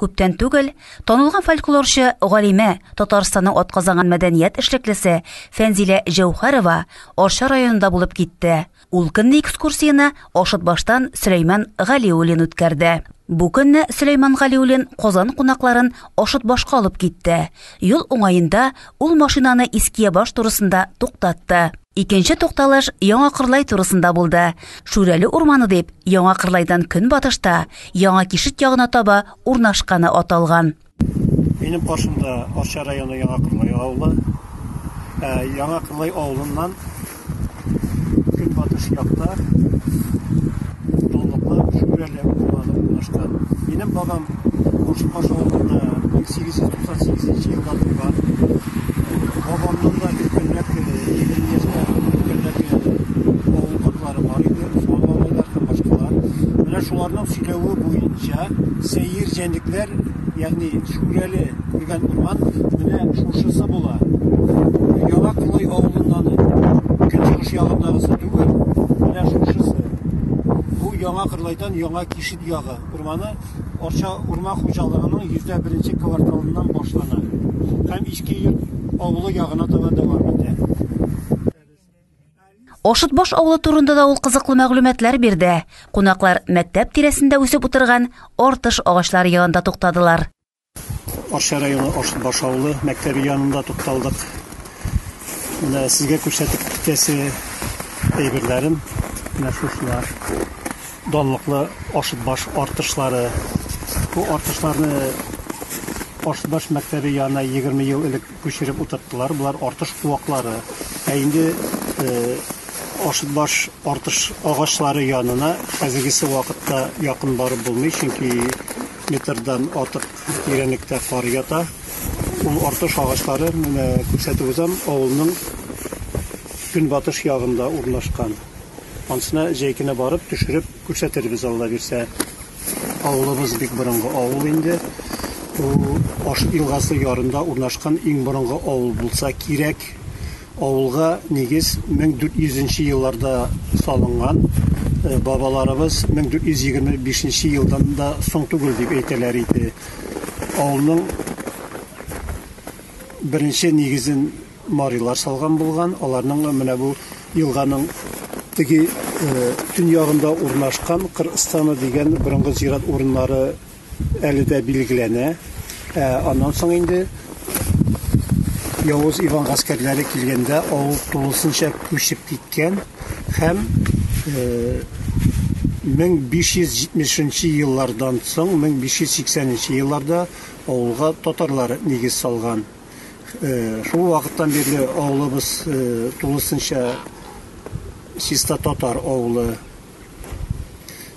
Күптән түгел танылган фольклорчы галимә, Татарстанның атказанган мәдәният эшлеклесе Фәнзилә Җәүхәрова Арча районында булып китте. Ул көнне экскурсияне Ашытбаштан Сөләйман Галиуллин үткәрде. Бу көнне Сөләйман Галиуллин Казан кунакларын Ашытбашка алып китте. Юл уңаенда ул машинаны Искиябаш турысында туктатты. Икенче тукталыш Яңа Кырлай турысында булды. Шүрәле урманы дип Яңа Кырлайдан көнбатышта, Яңа Кишет ягына таба урнашканы аталган. Минем каршымда Арча районы Яңа Кырлай авылы. Ә, Яңа Кырлай авылыннан көнбатыш якта Тукталыклар шүрәле булмады булышта. Минем бабам Кушпаш авылында 1898 елда туган. Бабамның да өлкәнрәк егерме яшьтә өлкәнрәк авылдашлары бар иде, Усман бабайлар һәм башкалар. Менә шуларның сөйләве буенча сәер җәнлекләр Ягъни Шүрәле күргән урман менә шушысы була. Яңа Кырлай авылыннан көнчыгыш ягындагысы түгел, менә шушысы. Бу Яңа Кырлайдан Яңа Кишет ягы урманы Арча урман хуҗалыгының йөздә беренче кварталыннан башлана һәм Иске Йорт авылы ягына таба дәвам итә. Ошытбаш авылы турында да ул кызыклы мәгълүматлар бирде. Кунаклар мәктәп тирәсендә үсеп утырган артыш агачлары янында туктадылар. Арча районы Ошытбаш авылы мәктәбе янында тукталдык. Менә сезгә күрсәтеп китәсе әйберләрем менә шушылар. Данлыклы Ошытбаш артышлары. Бу артышларны Ошытбаш мәктәбе янына 20 ел элек Күчереп утырттылар, болар артыш куаклары. Ә инде Ашытбаш артыш агачлары янына хәзергесе вакытта якын барып булмый, чөнки метрдан артык тирәнлектә кар ята. Ул артыш агачлары, менә күрсәтеп узам, авылның көнбатыш ягында урнашкан. Ансына җәй көне барып, төшереп күрсәтербез, Алла бирсә. Авылыбыз бик борынгы авыл инде. Ул Ош елгасы ярында урнашкан иң борынгы авыл булса кирәк. Авылга нигез 1400 нче елларда салынган. Бабаларыбыз 1425 нче елдан да соң түгел дип әйтәләр иде. Авылның беренче нигезен. Марилар салган булган, аларның менә бу елганың теге төньягында урнашкан Кырыстаны дигән борынгы зират урыннары әле дә билгеләнә. Ә аннан соң инде Явыз Иван гаскәрләре килгәндә авыл тулысынча күчеп киткән һәм 1570 нче еллардан соң 1580 нче елларда авылга татарлар нигез салган. Шул вакыттан бирле авылыбыз тулысынча чиста татар авылы.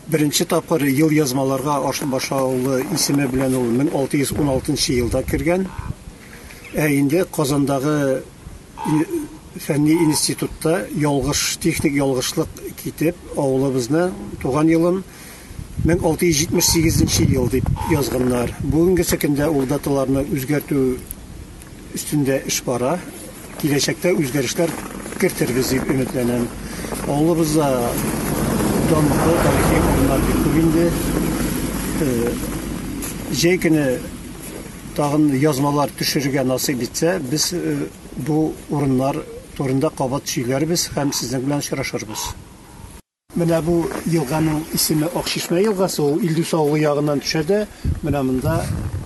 Беренче тапкыр елъязмаларга Ашынбаш авылы исеме белән ул 1616 елда кергән. Ә инде Казандагы фәнни институтта ялгыш, техник ялгышлык китеп, авылыбызны, туган елын 1678 нче ел дип язганнар. Бүгенгесе көндә ул даталарны үзгәртү өстендә эш бара. Киләчәктә үзгәрешләр кертербез дип өметләнәм. Авылыбызда данлыклы тарихи урыннар бик күп инде. Э, җәй көне тагын язмалар төшерергә насыйп итсә, без э, бу урыннар турында кабат сөйләрбез һәм сезнең белән очрашырбыз. Менә бу елганың исеме Акчишмә елгасы, ул Илдус авылы ягыннан төшә дә, менә монда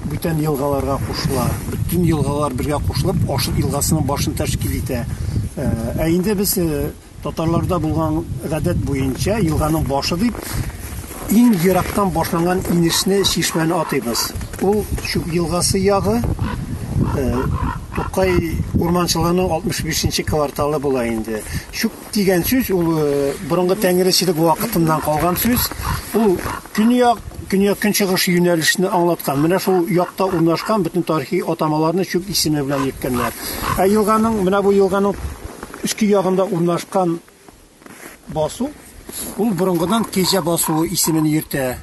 бүтән елгаларга кушыла. Бөтен елгалар бергә кушылып Ашыт елгасының башын тәшкил итә. Ә инде без татарларда булган гадәт буенча елганың башы дип иң ерактан башланган инешне, чишмәне атыйбыз. Ул Чүп елгасы ягы, Тукай урманчылыгының 65 нче кварталы була инде. Чүп Дигән сүз ул борынгы тәңречелек вакытыннан калган сүз. Ул көньяк, көньяк-көнчыгыш юнәлешне аңлаткан. Менә шул якта урнашкан бөтен тарихи атамаларны чүп исеме белән йөрткәннәр. Ә елганың, менә бу елганың өске ягында урнашкан басу, ул борынгыдан Кәҗә басуы исемен йөртә.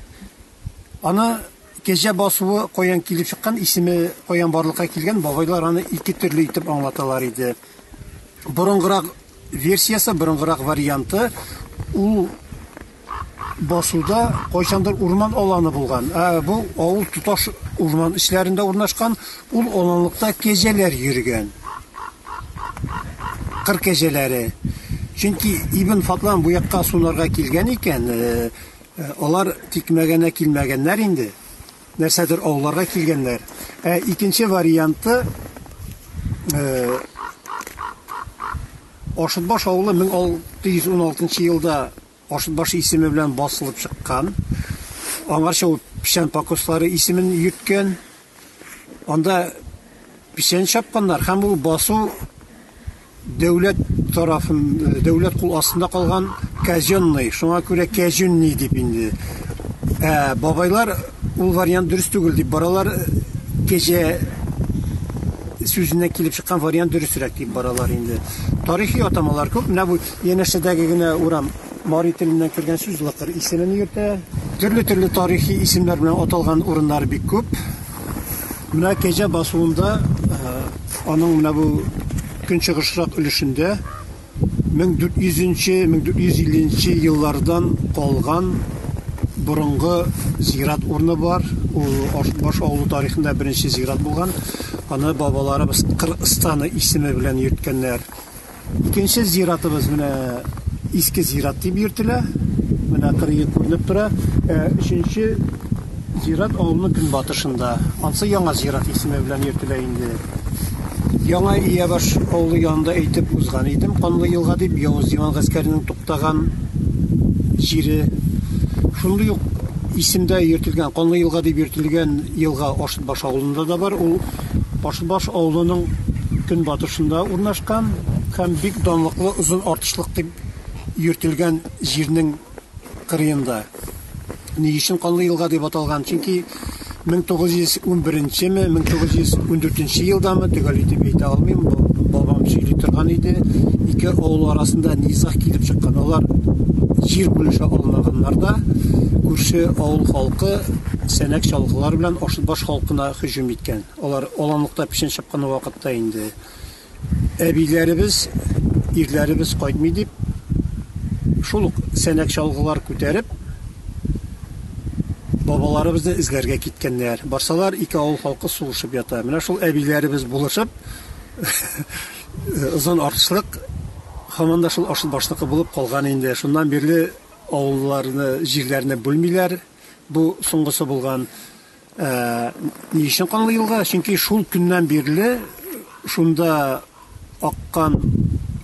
Аны Кәҗә басуы каян килеп чыккан, исеме каян барлыкка килгән, бабайлар аны ике төрле итеп аңлаталар иде. Борынгырак версиясе, борынгырак варианты, ул басуда кайчандыр урман аланы булган. Ә бу авыл тоташ урман эчләрендә урнашкан, ул аланлыкта кәҗәләр йөргән. Кыр кәҗәләре. Чөнки Ибн Фатлан бу якка сунарга килгән икән, Ә алар тикмәгәнә килмәгәннәр инде, нәрсәдер ауларга килгәннәр. Ә икенче варианты Ашытбаш авылы 1616 елда Ашытбаш исеме белән басылып чыккан. Аңарча ул печән покослары исемен йөрткән. Анда печән чапканнар һәм ул басу дәүләт тарафын дәүләт кул астында калган казенный шуңа күрә кәҗүнни дип инде ә бабайлар ул вариант дөрес түгел дип баралар кәҗә сүзеннән килеп чыккан вариант дөресрәк дип баралар инде тарихи атамалар күп менә бу янәшәдәге генә урам Мари теленнән кергән сүз лыкыр исемен йөртә. Төрле-төрле тарихи исемнәр белән аталган урыннар бик күп. Менә Кәҗә басуында э, аның менә бу көнчыгышрак өлешендә 1400-1450 еллардан калган борынгы зират урыны бар. Ул баш авылы тарихында беренче зират булган. Аны бабаларыбыз Кырыстаны исеме белән йөрткәннәр. Икенче зиратыбыз менә иске зират дип йөртелә. Менә кырые күренеп тора. Э, өченче зират авылның көнбатышында. Ансы яңа зират исеме белән йөртелә инде. Яңа Иябаш авылы янында әйтеп узган идем, Канлы елга дип Явыз диван гаскәренең туктаган җире. Шундый ук исемдә йөртелгән, Канлы елга дип йөртелгән елга Ашытбаш авылында да бар. Ул Башбаш авылының көнбатышында урнашкан һәм бик данлыклы Озын Артышлык дип йөртелгән җирнең кырыенда. Ни өчен Канлы елга дип аталган? Чөнки 1911 ме, 1914 елдамы, төгәл итеп әйтә алмыйм, бабам сөйли торган иде, ике авыл арасында низаг килеп чыккан. Алар җир бүлешә алмаганнар да, күрше авыл халкы сәнәк чалгылар белән Ашытбаш халкына һөҗүм иткән. Алар аланлыкта печән чапкан вакытта инде әбиләребез, ирләребез кайтмый дип, шул ук сәнәк-чалгылар күтәреп, бабаларыбызны эзләргә киткәннәр. Барсалар, ике авыл халкы сугышып ята. Менә шул әбиләребез булышып, Озын Арчылык һаман да шул Арчылбашныкы булып калган инде. Шуннан бирле авылларны, җирләрне бүлмиләр. Бу соңгысы булган. Ә ни өчен канлы елга? Чөнки шул көннән бирле шунда аккан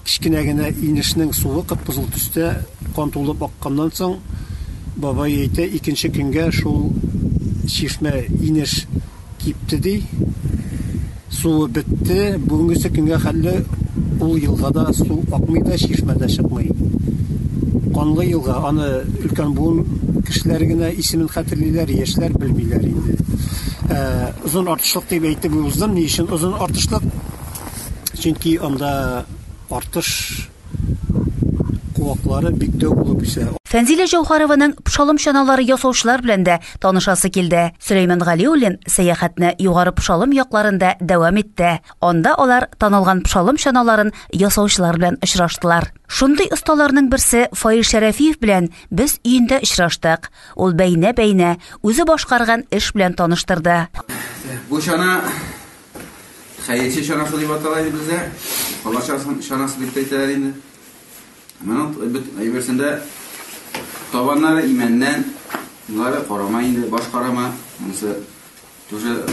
кечкенә генә инешнең суы кып-кызыл төстә кан тулып акканнан соң, бабай әйтә, икенче көнгә шул чишмә, инеш кипте, ди. Су бетте, бүгенгесе көнгә хәлле ул елгада су акмый да, чишмә дә чыкмый. Канлы елга, аны өлкән буын кешеләре генә исемен хәтерлиләр, яшьләр белмиләр инде. Ә Озын Артышлык дип әйтеп уздым, ни өчен Озын Артышлык? Чөнки анда Артыш куаклары бик дәү булып үсә. Фәнзилә Җәүһәрованың пшалым чаналары ясаучылар белән дә танышасы килде. Сөләйман Галиуллин сәяхәтне Югары Пшалым якларында дәвам итте. Анда алар танылган пшалым чаналарын ясаучылар белән очраштылар. Шундый осталарның берсе Фаил Шәрәфиев белән без өендә очраштык. Ул бәйнә-бәйнә, үзе башкарган эш белән таныштырды. Бу чана Хәерче чанасы дип атала иде бездә. Алла чанасы дип әйтәләр инде. Моның бит әйберсендә табаннары имәннән, мулары карама инде, баш карама. Монысы тоже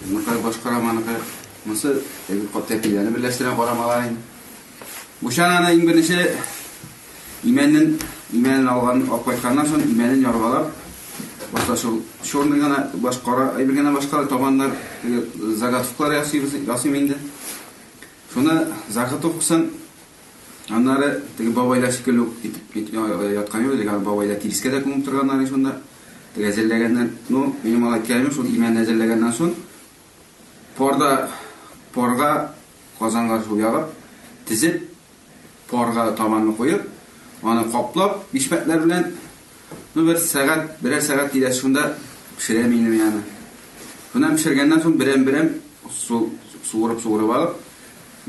мулар баш карама ныка. Монысы әйбер кап тәпиләрне берләштерә карамалар инде. Бу чананы иң беренче Имәнен, имәнен алган, алып кайтканнан соң, имәнен яргалап, башта шул черный гына, баш кара әйбер генә башка, табаннар, теге заготовкалар ясыйбыз, ясыйм инде. Шуны заготовкасын аннары теге бабайлар шикелле үк итеп ит- я- яткан юк, теге бабайлар тирескә дә күмеп торганнар иде шунда. Теге әзерләгәннән, ну, минем алай кәләмем шул имәнне әзерләгәннән соң, парда, парга казанга шул ягып, тезеп, Парга табанны куеп, аны каплап, бишмәтләр белән, ну, бер сәгать, берәр сәгать тирәсе шунда пешерәм инде мин аны. Шуннан пешергәннән соң берәм-берәм су суырып-суырып алып,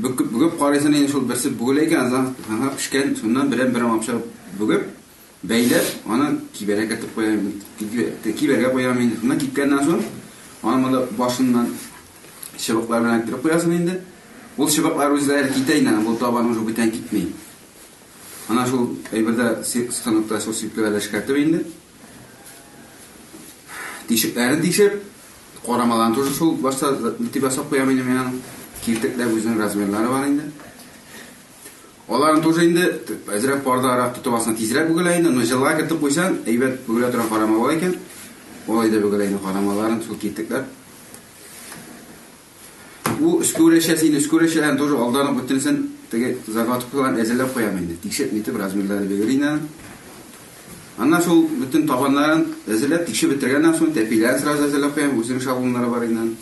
бөкеп-бөгеп карыйсың, инде шул берсе бүгелә икән, азан, ага, пешкән, шуннан берәм-берәм алып чыгып бөгеп, Бәйләп, аны кибәргә кертеп куям бит. Кибәргә куям инде. Шуннан кипкәннән соң, аны монда башыннан чыбыклар белән кертеп куясың инде. Ул чыбыклар үзләре китә инде, ул табан уже бүтән китми. Ана шул әйбердә сыктаныкта шул сипләгәдә эшкәртеп инде. Тишекләрен тишеп, карамаларын тоже шул башта итеп ясап куям инде мин аны. Киртекләр үзенең размерлары бар инде. Аларны тоже инде әзрәк пардарак тотып алсаң тизрәк бөгелә инде, но җылга кертеп куйсаң, әйбәт бөгелә торган карама бар икән. Алай да бөгелә инде карамаларын шул китекләп. Бу өскүрәчәсе инде өскүрәчәләрен тоже алдан ук бөтенесен теге заготовкаларын әзерләп куям инде. Тикшереп нитеп размерлары бөгер инде. Аннан шул бөтен табаннарын әзерләп тикшереп бетергәннән соң тәпиләрен сразу әзерләп куям, үзенең шаблоннары бар инде.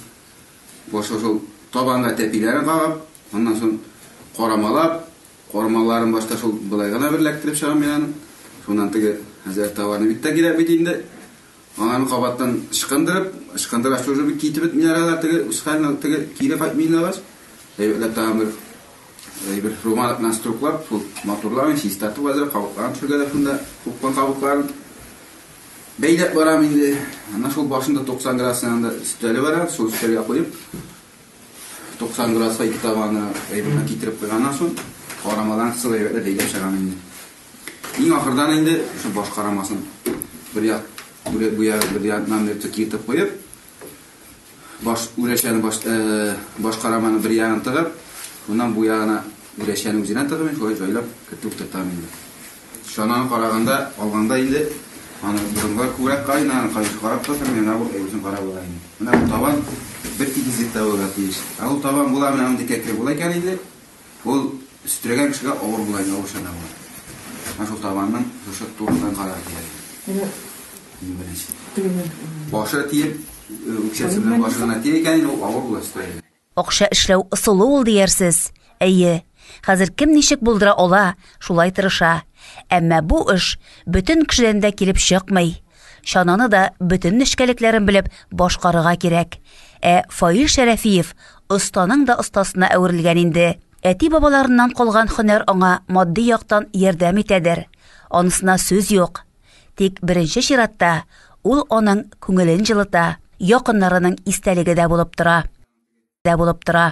Башта шул табанга тәпиләрен кагып, аннан соң карамалап, кармаларын башта шул болай гына бер эләктереп чыгам мин аны. Шуннан теге хәзрәт товарны бит тә кирәк бит инде. Ананы кабаттан ычкындырып, ычкындыра шужы бит китеп бетмиләр алар теге үз хәленә теге кире кайтмыйлар. Әйбәтләп тагын бер әйбер румал белән струклап, шул матурларын чистартып азрак кабыкларын төшергәләп шунда купкан кабыкларын Бәйләп барам инде. Ана шул башында 90 градус янында өстәле бар, шул өстәлгә куеп 90 градуска ике табаны әйберне китереп куйганнан соң карамадан кысып әйбәтләп бәйләп чыгам инде. Иң ахырдан инде шул баш карамасын бер як бүләк буя бер яннан бер тик киеп куеп Баш үләчәне баш э, башкараманы бер ягын тыгып, моннан бу ягына үләчәне үзенә тыгып, шулай җайлап кертеп тотам инде. Чананы караганда, алганда инде аны борынга күбрәк кайнаган, кайнаган карап тотам, менә бу әйбәтен карап була инде. Менә бу табан бер тигезлектә булырга тиеш. Ә ул табан була, менә андый кәкре була икән инде, Ул өстерәгән кешегә авыр була иде, авыр чана була. Менә шул табанның шушы турыдан карар килә иде. Менә иң беренче. Башы тиеп, үкчәсе белән башы гына тия икән, ул авыр була өстерәгән. Акча эшләү ысулы ул диярсез. Әйе, хәзер кем ничек булдыра ала, шулай тырыша. Әмма бу эш бөтен кешедән дә килеп чыкмый. Чананы да бөтен нечкәлекләрен белеп башкарырга кирәк. Ә Фаил Шәрәфиев Останың да остасына әверелгән инде. Әти-бабаларыннан калган хөнәр аңа матди яктан ярдәм итәдер. Анысына сүз юк. Тик беренче чиратта ул аның күңелен җылыта, якыннарының истәлеге дә булып тора. Дә булып тора.